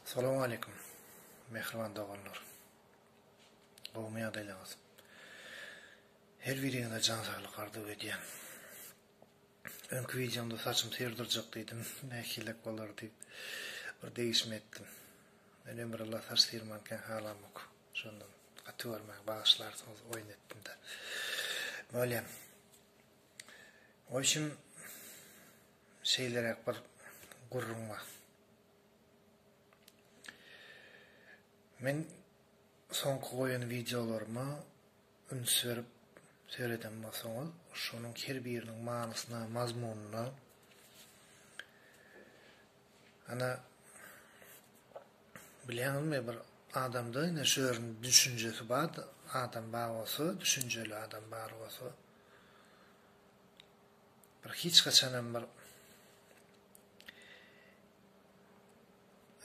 Salam aleýkum mähriban doganlar. Gowmy ýagdaýlaryňyz? Her biriňize jan saglyk arzuw edýän. Öňki wideomda saçym syr durjak diýdim, nähilek bolar diýip bir degişme etdim. Men ömrülla saç syrmankäň halamok. Şondan gaty görmäň, bagyşlarsyňyz oýun etdim-de. Bolýan. Oýşim Şeýleräk bir gürrüň bar. Men soňky goýan wideolaryma üns berip sereden bolsaňyz, şonuň her biriniň manysyna, mazmunyna, ana, bilýäňizmi, bir adamda ine şu ýerinde düşünjesi bar adam bar bolsa, düşünjeli adam bar bolsa, Bir hiç haçanam bir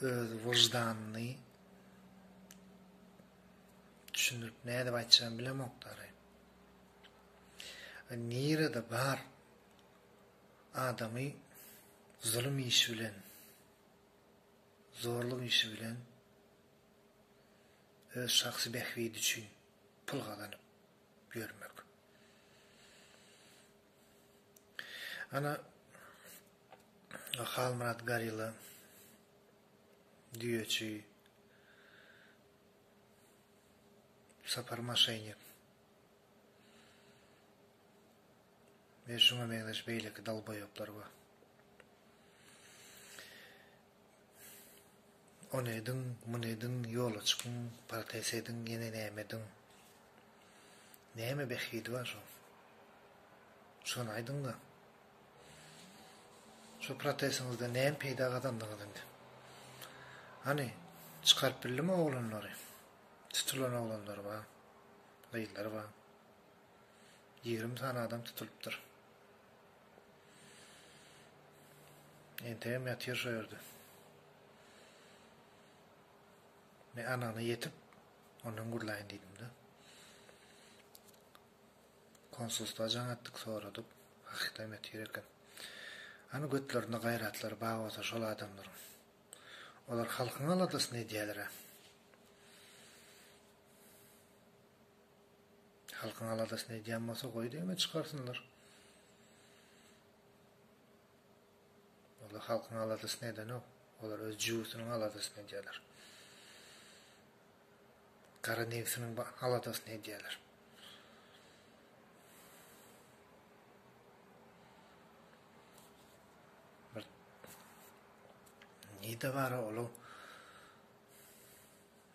öz wyždanyny düşündirip nädip aýtjagyny bilemokdary. Nirede bar adamy zulum işi bilen zorluk işi bilen öz şahsy bähbidi üçin pul gazanyp bermek. Ana Halmyrat Garila düýeçi Sapar Maşeýnik we şuňa meňzeş beýleki dalboýaplar bar. Ony ediň, muny ediň, ýola çykyň, protest ediň, ýene näme ediň? Näme bähbidi bar şoň? Şony aýdyň-da! Şo protestiňizden näme peýda gazandyňyz indi? Hany, çykaryp bildiňmi oglanlary? Tutulan oglanlary bar, gyzlary bar. Ýigrimi sany adam tutulypdyr. Entegem ýatyr şo ýerde. Men anygyna ýetip, ondan gürläýin diýdim-de. Konsulstwa jaň etdik, soradyk. Hakykydam ýatyr eken. Hany götlerinde gaýratlary bar bolsa şol adamlaryň. Olar halkyň aladasyny edýäler-ä. Halkyň aladasyny edýän bolsa goý diňe çykarsynlar. Olar halkyň aladasyny edenok. Olar öz jübüsiniň aladasyny edýärler. Gara nebsiniň aladasyny edýärler. Nide bara olu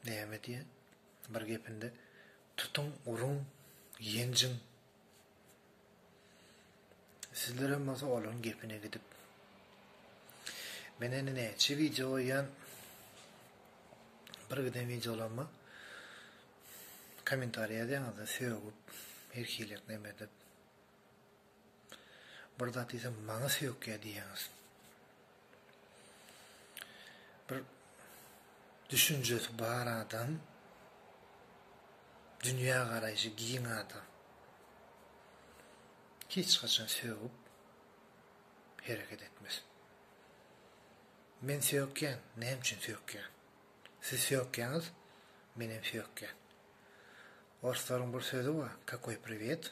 näme diýen? Bir gepinde, Tutuň, uruň, ýenjiň! Sizlerem bolsa olaryň gepine gidip. Men indi näçe wideo goýýan. Bir giden wideolaryma kommentariý ýazýaňyzda sögüp, her hili neme edip. Bir zat diýsem maňa söýükýä diýýäňiz. Bir düşünjesi bar adam, dünýä garaýşy giň adam. Hiç haçan sögüp hereket etmez. Men söýükýän, näme üçin söýükýän? Siz söýükýäňiz, men hem söýükýän. Orslaryň bir sözi bar, kakoý priwet,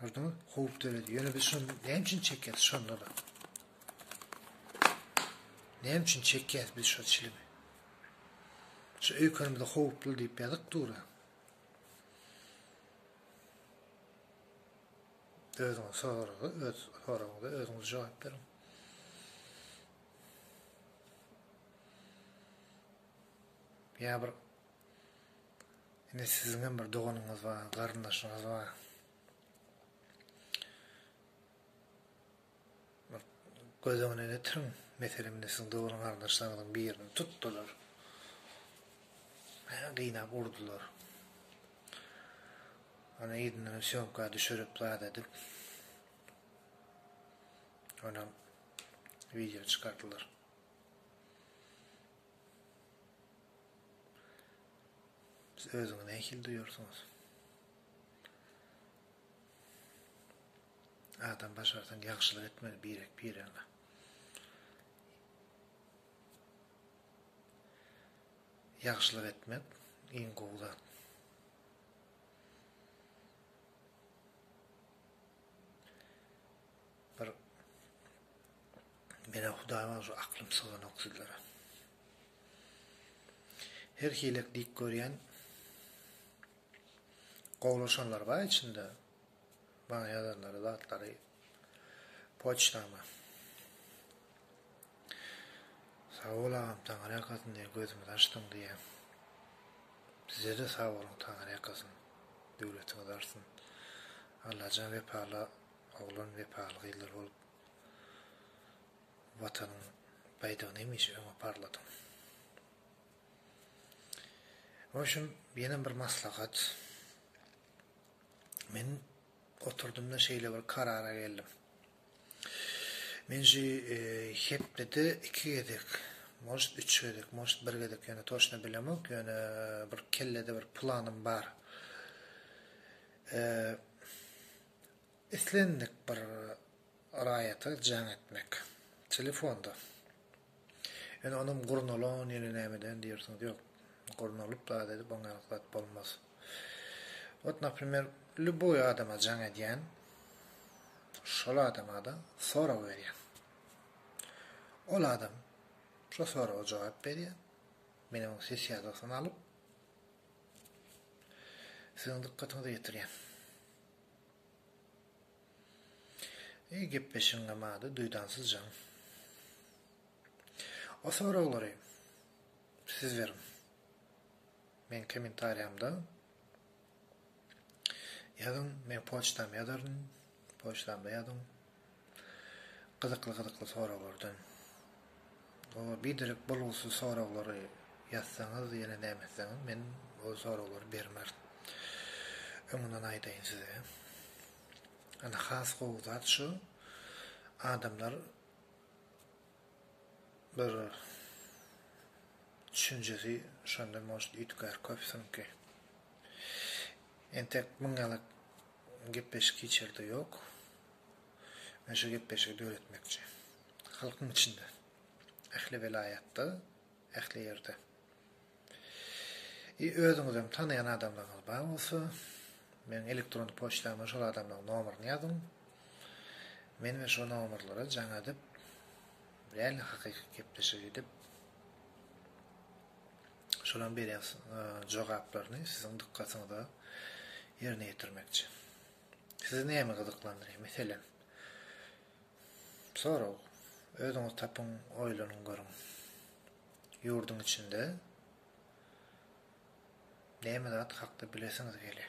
Gördüňiz, howp döredi. Ýöne biz şony näme üçin çekýäs şonda-da? Näme üçin çekýäs biz şu çilimi? Şu öýkenimizde howply diýip ýazyk dura. Özüňiz soragy, öz soragyňyza özüňiz jogap beriň. Ýa bir Indi siziň hem bir doganyňyz bar, garyndaşyňyz bar. Bir göz öňüne getiriň, meselem, indi siziň dogry garyndaşlaryňyzyň birini tutdular. Hä, gynap urdular. Ony yzyndan sýomka düşürip, zat edip, onam wideo çykardylar. Siz özüňizi nähili duýarsyňyz? Adam başarsaň ýagşylyk etmeli birek-biregiňe. Ýagşylyk etmek iň gowy zat. Bir Mena Hudaý bagşy aklym syganok sizlere. Her hilek dik görýän gowlaşanlar bar içinde. Bana ýazanlary zatlary poçtama. Sag bol agam taňar ýakasyn diýen gözümi açdyň diýen. Size de sag boluň taňar ýakasyn. Döwletiňiz artsyn. Allajan wepaly Oglan wepaly gyzlar bolup Watanyň baýdagyny hemişe öňe parladyň. Oýşum ýenem bir maslahat. Men oturdymda şeýle bir karara geldim. Men şu hepdede iki gezek, most üç gezek, most bir gezek ýöne toşna bilemok, ýöne bir kellede bir planym bar. Eee Islendik bir raýata jaň etmek. Telefonda. Ýöne onam gurnalan ýene nämeden diýersiňiz. Ýok. Gurnalyp zat edip oňaýlyk zat bolmaz. Ot naprimer lýuboý adama jaň edýän. Şol adama-da sorag berýän. Ol adam şo soraga jogap berýär. Men onuň ses ýazgysyny alyp siziň dykgatyňyza ýetirýän. Eý gepleşigiňe mady duýdansyz jan. O soraglary siz beriň. Meň kommentariýamda ýazyň men poçtam ýazaryn poçtamda ýazyň. Gyzykly gyzykly soraglardan. Gowy biderek bolgusyz soraglary ýazsaňyz ýene näme etseňiz men ol soraglary bermer. Öňünden aýdaýyn size. Ana has gowy zat şu adamlar bir düşünjesi şonda может üýtgär köp siňki. Entek müň ýaly Gepleşik hiç ýerde ýok. Men şu gepleşigi döretmekçi. Halkyň içinde. Ähli welaýatda, ähli ýerde. I özüňizem tanaýan adamlaryňyz bar bolsa, meniň elektron poçtama şol adamlaryň nomerini ýazyň. Men we şo nomerlere jaň edip, real hakyky gepleşik edip, Şolaň berýän jogaplaryny siziň dykgatyňyza ýerine ýetirmekçi. Sizi näme gyzyklandyrýar? Meselem, sorag. Özüňiz tapyň, oýlanyň görüň. Ýurduň içinde näme zat hakda bilesiňiz gelýär?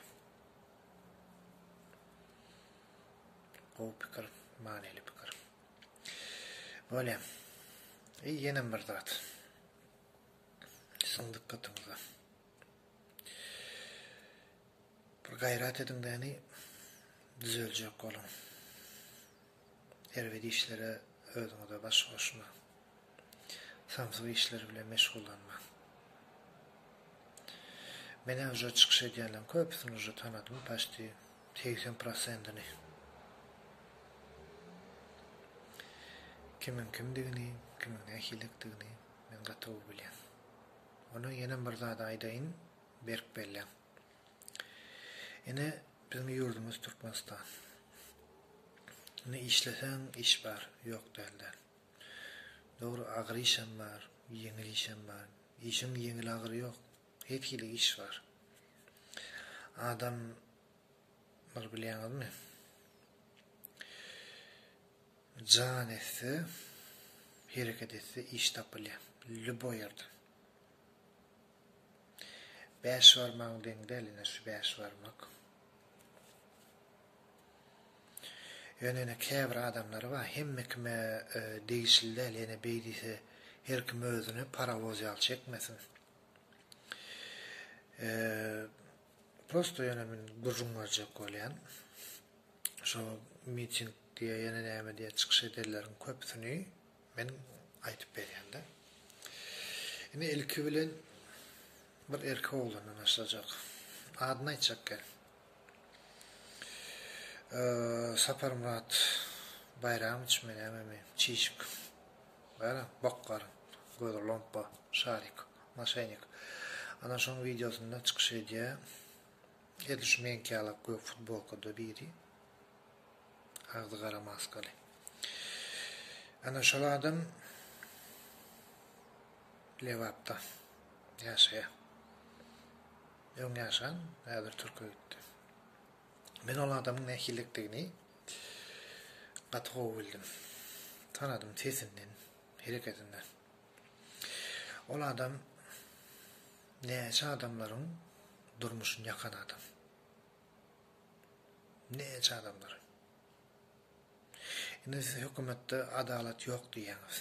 Gowy pikir, manyly pikir. Bolýar. Ýenem bir zat. Siziň dykgatyňyza. Bir gaýrat ediň däni düzeljek boluň. Erbet işlere özüňize baş goşmaň. Samsyk işler bilen meşgullanmaň. Menä uje çykyş edýänleriň köpüsini uje tanadym paçti segsen prosendini. Kimiň kimdigini, kimiň nähilidigini. Men gatowy bilýän. Ony ýenem bir zady aýdaýyn, berk belläň. Ine, biziň ýurdumyz Türkmenistan. Indi işleseň iş bar, ýok dälde. Dogry, agyr işem bar, ýeňil işem bar. Işiň ýeňil-agyry ýok. Her hili iş bar. Adam. Muny bilýäňizmi? Jan etse, hereket etse iş tapylýar. Lýuboý ýerden. Bäş barmagyň deň däl ine şu bäş barmak. Ýöne ine käbir adamlar bar, hemme kime degişli däl, ýene beý diýse her kim özüni parowoz ýaly çekmesin. Prosto ýene men gürrüň berjek bolýan. Şo miting diýä ýene näme diýä çykyş edenleriň köpüsini men aýdyp berýän-de. Indi ilki bilen bir erkek oglandan başlajak. Adyny aýtjak gel. Saparmyrat Baýramowiç mi nämemi, Çişik. Bäh, bok garyn, gözi lompa, şarik. Moşennik. Ana şoň wideosynda çykyş edýä. Edil şu meňki ýalak gök futbolkada biri. Agzy gara maskaly. Ana şol adam Lebapda ýaşaýa. Öň ýaşan, häzir türke gitdi. Men ol adamyň nähililikdigini gaty gowy bildim. Tanadym sesinden, hereketinden. Ol adam näçe adamlaryň durmuşyny ýakan adam. Näçe adamlar. Indi siz hökümetde adalat ýok diýýäňiz.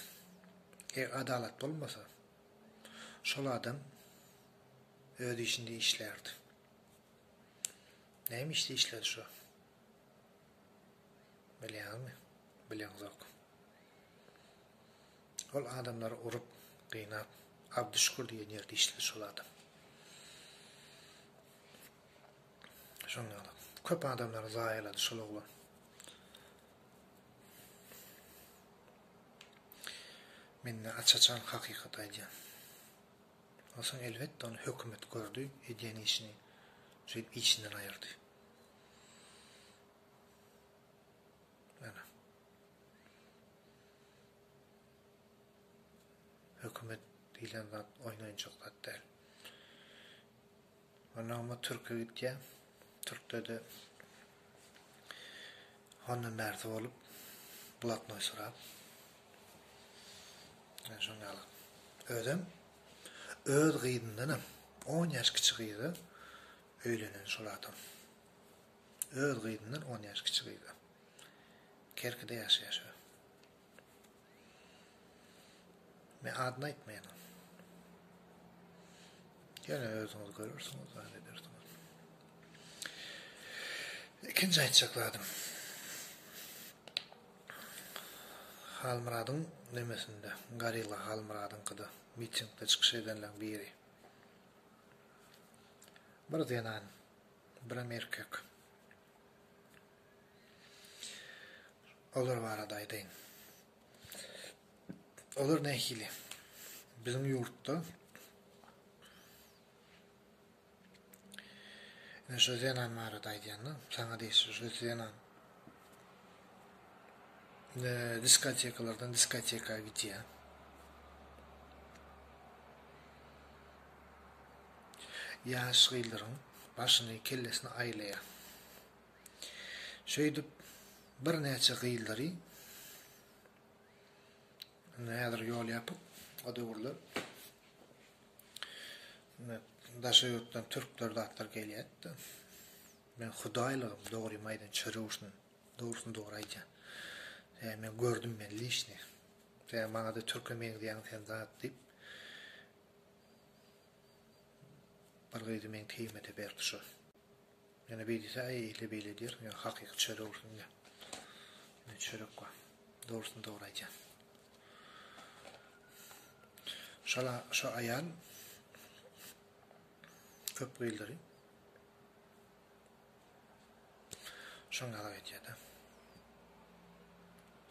Eger adalat bolmasa, şol adam öz işinde işlärdi. Näme işde işledi şo? Bilýäňizmi? Bileňzok. Ol adamlary urup, gynap, Abdyşükür diýen ýerde işledi şol adam. Şoň ýaly. Köp adamlary zaýalady şol oglan. Mende aç-açan hakykat aýdýan. Onsoň elbetde ony hökümet gördi, edýän işini, şeýdip işinden aýyrdy. Ýöne hökümet diýlen zat oýnanjak zat däl. Ondan ama Türkiýe gitýär. Türkde-de hondan bärsi bolup, blatnoý sorap. Yani şoň ýaly. Özem öz gyzyndanam 10 ýaş kiçi gyzy Öýlenen şol adam. Öz gyzyndan on ýaş kiçi gyzy. Kerkide ýaşaýar şu. Men adyny aýtmaýan. Ýöne özüňiz görersiňiz, zat edersiňiz. Ikinji aýtjak zadym. Halmyradyň nemesinde, Garilla Halmyradyňkyda mitingde çykyş edenleň biri. Bir zenan, birem erkek. Olar barada aýdaýyn. Olar nähili? Biziň ýurtda ine şu zenan barada aýdýanda, saňa degişli şu zenan diskotekalardan diskoteka gidýär. Ýaş gyzlaryň başyny, kellesini aýlaýar. Şeýdip, birnäçe gyzlary Indi häzir ýol ýapyk. O döwürler daşary ýurtdan türkler zatlar gelýärdi. Men hudaýlygym, dogrymy aýdan çörewşin, dogrusyny dogry aýdýan. Sen men gördüm men lişni. Sen maňa-da türke meňzeýäň sen zat diýip. Bir gyzy men keýmede berip düşürin. Ýöne beý diýse, aý eýle beýle diýerin, ýöne hakyky çörek bolsun diýýän. Ýöne çörek bar. Dogrusyny dogry aýdýan. Şala şu aýal köp gyýyldyry. Şoň ýaly aýdýada.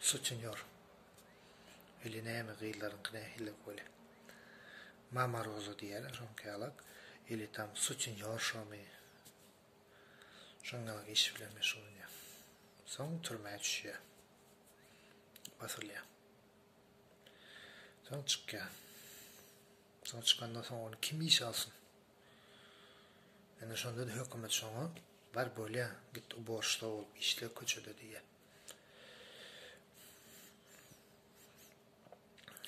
Sutinýor. Weli näme gyzlaryňky nähili weli. Mama Roza diýýäler şoňky ýalak. Eli tam sutinýorşamy. Şoň ýalak iş bilen meşgullanýa. Soň türmä düşýä. Basylýa. Soň çykýa. Soň çykandan soň ony kim işe alsyn. Indi şonda-da hökümet şoňa, Bar, bolýa, git uborşşsa bolup işle köçede diýýä.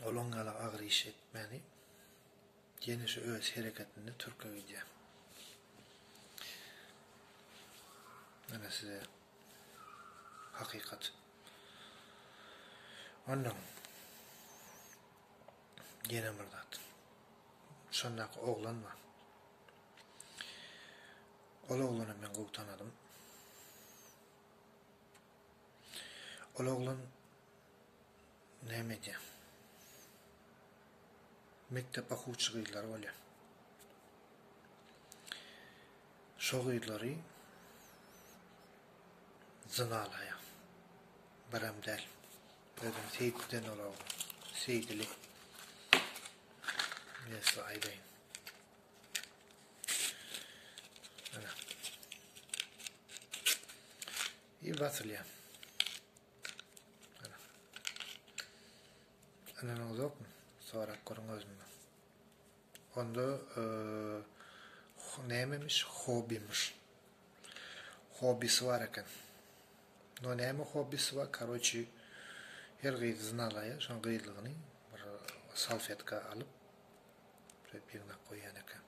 Ol oň ýaly agyr iş etmäni, ýene şu öz hereketinde türke gidýä. Ine size hakykat. Onnoň. Ýene bir zat. Şondaky oglan bar. Ol oglany men gowy tanadym. Ol oglan näme edýär? Mekdep okuwçy gyzlary bolýar. Şo gyzlary zynalaýar. Birem däl. Özüm seýdiden olam. Seýdili. Men size aýdaýyn. Ana. I basylýar. Ana. Ana uzak mı? Sorak görün özümden. Onda e, neymemiş? Hobimiş. Hobbisi bar eken. No näme hobbisi bar karoçi her gyzy znalaýa şoň gyzlygyny bir salfetka alyp şeýdip ýygnap goýýan eken.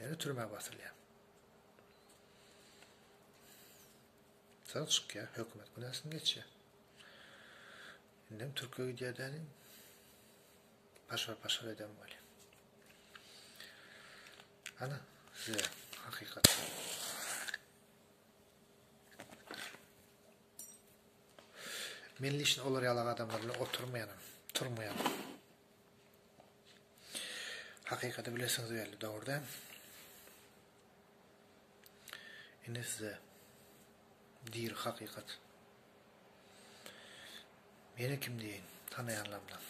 Ýöne türmä basylýar. Soň çykýar hökümet günäsini geçýär. Indem türke gidýär däni. Paşar paşar eden bolýar. Ana, size hakykat. Men leşin olar ýaly adamlar bilen oturmaýanam, turmaýanam. Hakykaty bilesiňiz belli, dogrudan. Indi size dir hakykat. Meni kim diýeýin, tanaýanlaryndan.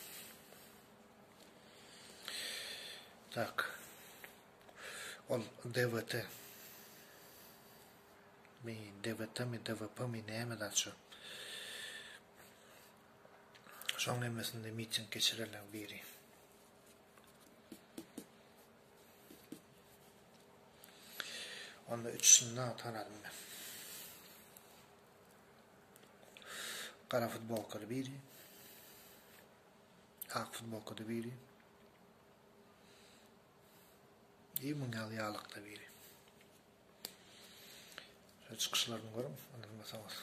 Tak. Ol DWT. Mi, DWT-mi, DWP-mi, näme zat şu. Şoň hemmesinde miting geçirenleň biri. Onda üçüsini-de tanadym men. Gara futbolkaly biri, ak futbolkada biri i muň ýaly ýalykda biri. Şo çykyşlaryny görüň, ynanmasaňyz.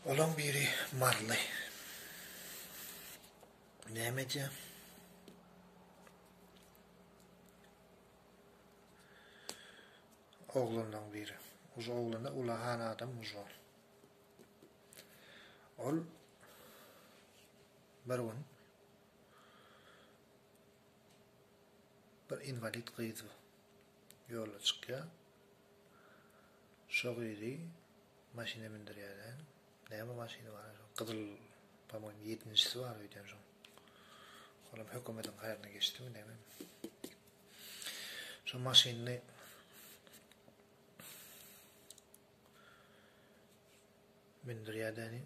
Olaň biri Marly. Näme diýýär? Oglanlaň biri. Uje oglana ulahan adam ujo. Ol bir gün bir inwalid gyz ýola çykýa. Şo gyzy maşyna mindirýärler. Näme maşyny bar? Gyzyl, pamyň 7-njisi bar öýden şoň. Olam hökümediň haýryna geçdimi neme. Şu maşynyny mündürýädäni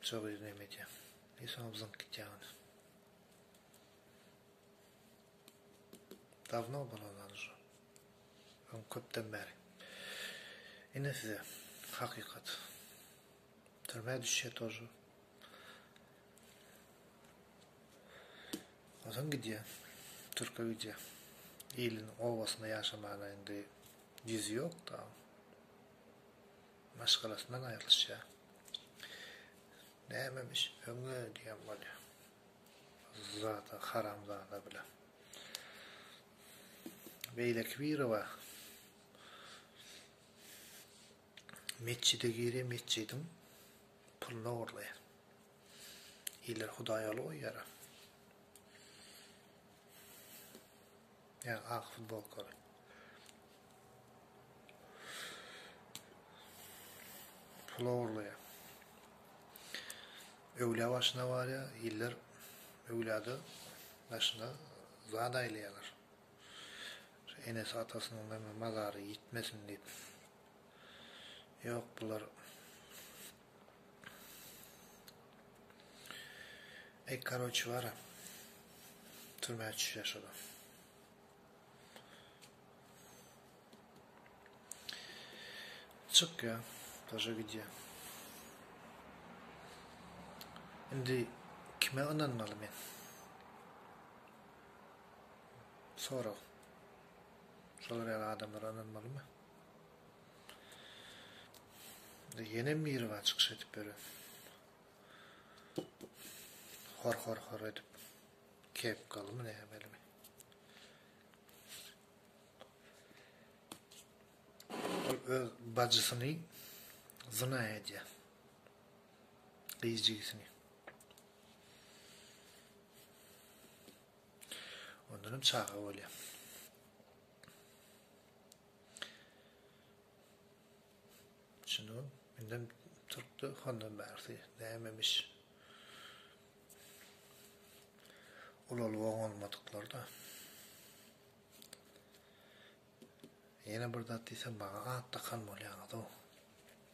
çabyr neme edýär. Bir soň zyňk gitýär. Davno bolalar şu. Öň köpden bäri. Ine size hakykat. Türmä düşýä tože. Onsoň gidýä. Türke gidýä. Iliniň obasynda ýaşamana indi ýüzi ýok da. Maşgalasyndan aýrylyşýa. Nämemiş öňe diýen bolýa. Zada haramzada bilen. Beýleki biri bar. Metjide girýär metjidiň pulyny ogurlaýar. Iler hudaýaly goýýar a. Ýa ak futbolkaly. Pul ogurlaýar. Öwlä başyna barýar, iller öwlada başyna zat aýlaýarlar. Şu enesi atasynyň meme mazary ýitmesin diýip ýok bular Eý karoçi bara türmä çüşe şoda. Çyk ya, taşa gidýä. Indi kime ynanmaly men? Sorag. Şolar ýaly adamlara ynanmalymy? Indi ýenem Miriba çykyş edip beren. Hor hor hor edip kepkalymy nämelimi? Ol öz bajysyny zyna edýär. Gyz jigisini. Ondan hem çaga bolýar. Şunu menden Türkde hondan bärsi nämemiş. Ulaly oň olmadyklar da. Ýene bir zat diýsem maňa at takan bolýaňyz o.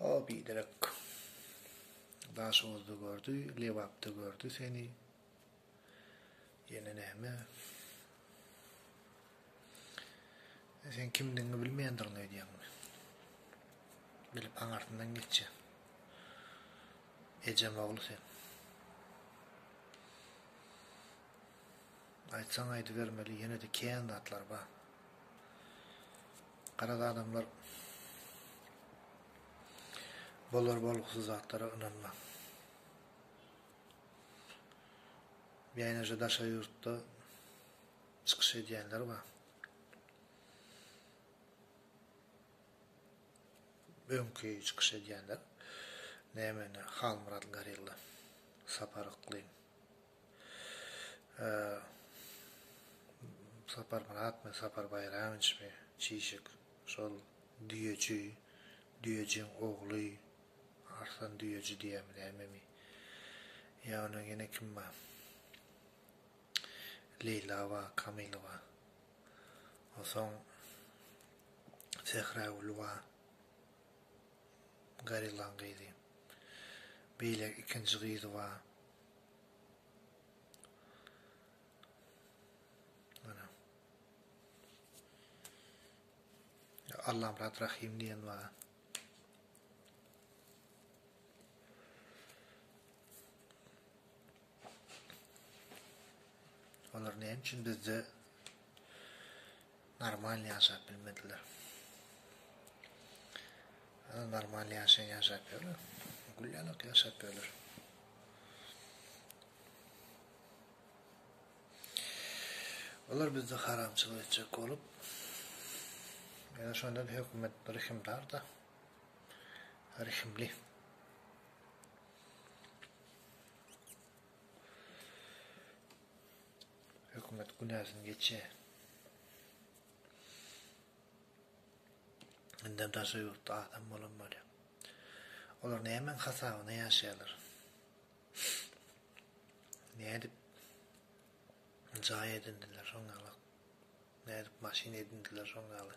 O biderek Daşoguzda gördi, Lebapda gördi seni. Ýene näme? Sen kimdigiňi bilmeýändigiňi öýdýäňmi? Bilip aňarsyndan geçýä. Ejem ogly sen. Aýtsaň aýdybermeli ýene-de kän zatlar bar. Garaz adamlar bolar bolgusy zatlara ynanmaň. Bäneje daşary ýurtda çykyş edýänler bar. Öňki çykyş edýänler näme indi Halmyrat Garilla, Sapar Yklym. Saparmyratmy, Saparbaýramowiçmi, çişik, şol düýeji, düýejiň ogly, Arslan düýeji diýýärmi, nämemi? Ýa onuň ýene kim bar? Leýla bar, Kamyl bar. Onsoň Sähragül bar, Garillaň gyzy. Beýle ikinji gyzy bar. Allamyrat Rahim diýen bar. Olar näme üçin bizde Normal ýaşap bilmediler. Ýa normal ýaşaýan ýaşap ýörler. Gülýanak ýaşap ýörler. Olar bizde haramçylyk etjek bolup, ýa şonda hökümet bir himdar da, her himli. Hökümet günäsini geçýä. Indem daşary ýurtda adam bolan bolýa. Olar nämäň hasabyna ýaşaýarlar? Nädip jaý edindiler şoň ýaly? Nädip maşyn edindiler şoň ýaly?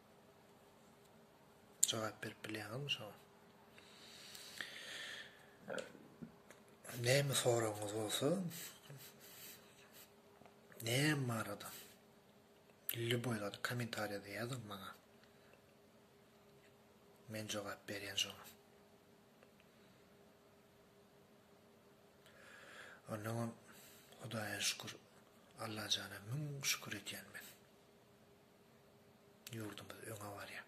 Jogap berip bilýäňizmi şoňa? Näme soragyňyz bolsa, näme barada? Lüboý zady kommentariýada ýazyň maňa. Men jogap berýän şoňa. Ondan Hudaýa şükür, Allajana müň şükür etýän men. Ýurdumyz öňe barýa.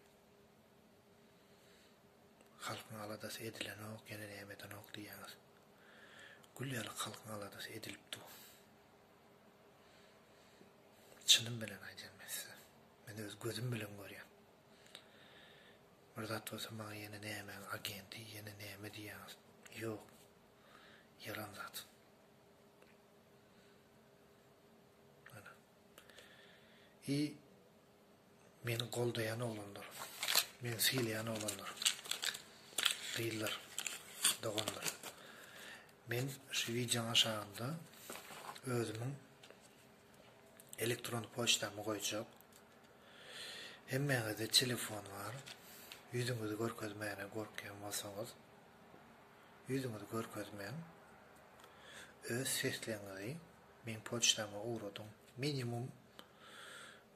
Halkyň aladasy edilenok, ýene näme edenok diýýäňiz. Gül ýaly halkyň aladasy edilipdi. Çynym bilen aýdýan men size. Men öz gözüm bilen görýän. Bir zat bolsa maňa ýene nämäň agenti, ýene näme diýýäňiz. Ýok. Ýalan zat. I meni goldaýan oglanlar, meni sylaýan oglanlar, gyzlar, doganlar. Men şu wideoň aşagynda özümiň elektron poçtamy goýjak. Hemmäňizde telefon bar. Ýüzüňizi görkezmäne gorkýan bolsaňyz, ýüzüňizi görkezmäň. Öz sesleňizi Meň poçtama ugradyň. Minimum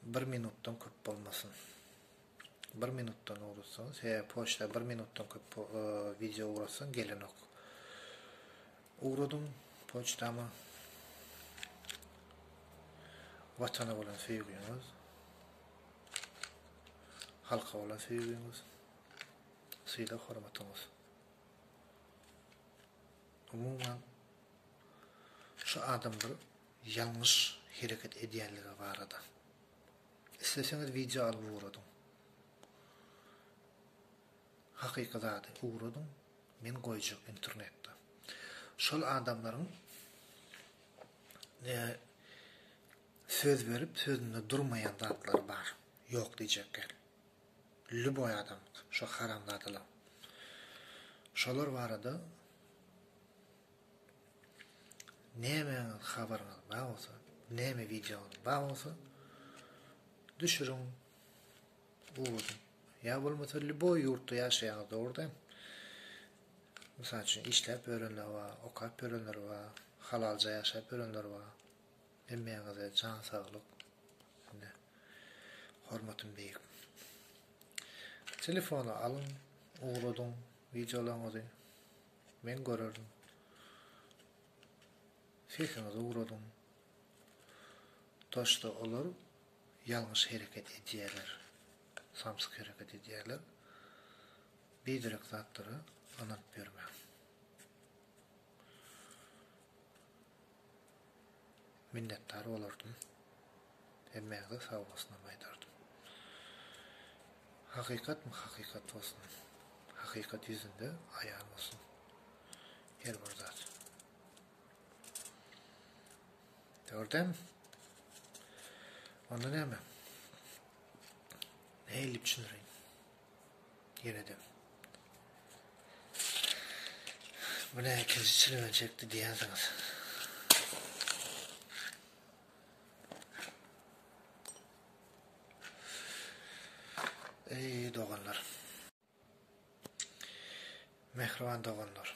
bir minutdan köp bolmasyn. Bir minutdan ugratsaňyz, sebäbi poçta bir minutdan köp wideo ugratsaň gelenok. Ugradyň poçtama. Watana bolan söýgiňiz, halka bolan söýgiňiz, sylag-hormatyňyz. Umuman Şu adamlar ýalňyş hereket edýänligi barada. Isleseňiz wideo alyp ugradyň. Hakyky zady ugradyň men goýjak internetde. Şol adamlaryň ne söz berip sözünde durmaýan zatlary bar. Ýok diýjek gel. Lýuboý adam şo haramzadalar. Şolar barada Nämäňiz habaryňyz bar bolsa, näme wideoňyz bar bolsa düşüriň owadan. Ýa bolmasa lýuboý ýurtda ýaşaýaňyz dogruda. Mysal üçin işläp ýörenler bar, okap ýörenler bar, halalja ýaşap ýörenler bar. Hemmäňize jan saglyk. Indi hormatym beýik. Telefony alyň, ugradyň wideolaryňyzy. Men görerdim. Sesiňizi ugradyň. Daşda olar ýalňyş hereket edýärler. Samsyk hereket edýärler. Biderek zatlara ynanyp ýörmäň. minnetdar bolardym. Hemmäňize sag bolsunam aýdardym. Hakykatmy hakykat bolsun. Hakykat ýüzünde aýan bolsun her bir zat. Gördem. Onda näme? Nähili düşündireýin? Ýene-de. Bu ne ikinji çilimi çekdi diýensiňiz. Ey doganlar. Mehriban doganlar.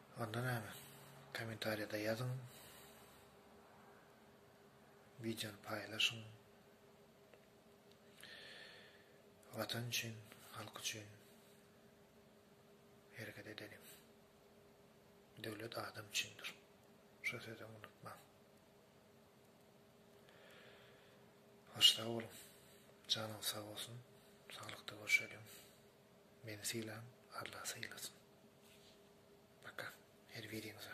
Onda näme? Kommentariýada ýazyň. Wideony paýlaşyň. Watan üçin, halk üçin hereket edeliň. Döwlet adam üçindir. Şu sözümi unutmaň. Hoş sag boluň. Janyňyz sag bolsun. Saglykda görşeliň. Meni sylan Alla sylasyn. Paka. Her biriňize.